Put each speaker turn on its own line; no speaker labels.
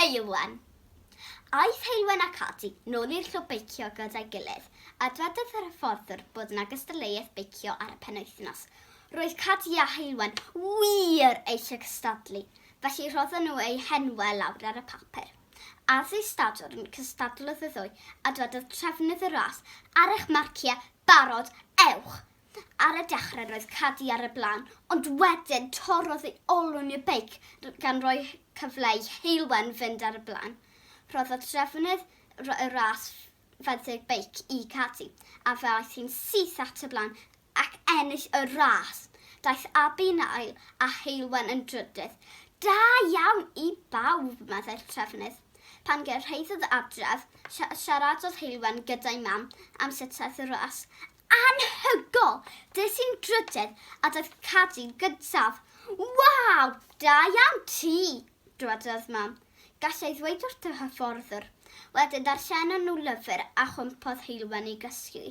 Heulwen. Aeth Heulwen ac Ati nôl i'r clwb beicio gyda'i gilydd, a dwedodd yr hyfforddwr bod yna gystadleuaeth beicio ar y penwythnos. Roedd Cati a Heulwen wir eisiau cystadlu, Felly rhodden nhw eu henwau lawr ar y papur. As ei stadwrn cystadlodd y ddwy, a dwedodd trefnydd y ras, Ar eich marciau, barod, ewch! Ar y dechrau roedd Cadi ar y blaen, ond wedyn torrodd ei olwyn i'r beic gan roi cyfle i Heulwen fynd ar y blaen. Rhoddodd trefnydd y ras fenthyg beic i Cadi, a fe aeth hi'n syth at y blaen ac ennill y ras. Daeth Abi yn ail a Heulwen yn drydydd. Da iawn i bawb, meddai'r trefnydd. Pan gyrhaeddodd adref, siaradodd Heulwen gyda'i mam am sut aeth y ras. Anhygoel! Des i'n drydydd a daeth Cadi gyntaf. Waw! Da iawn ti! dywedodd mam. Gallai ddweud wrth y hyfforddwr. Wedyn ddarllenon nhw lyfr a chwympodd Heulwen i gysgu.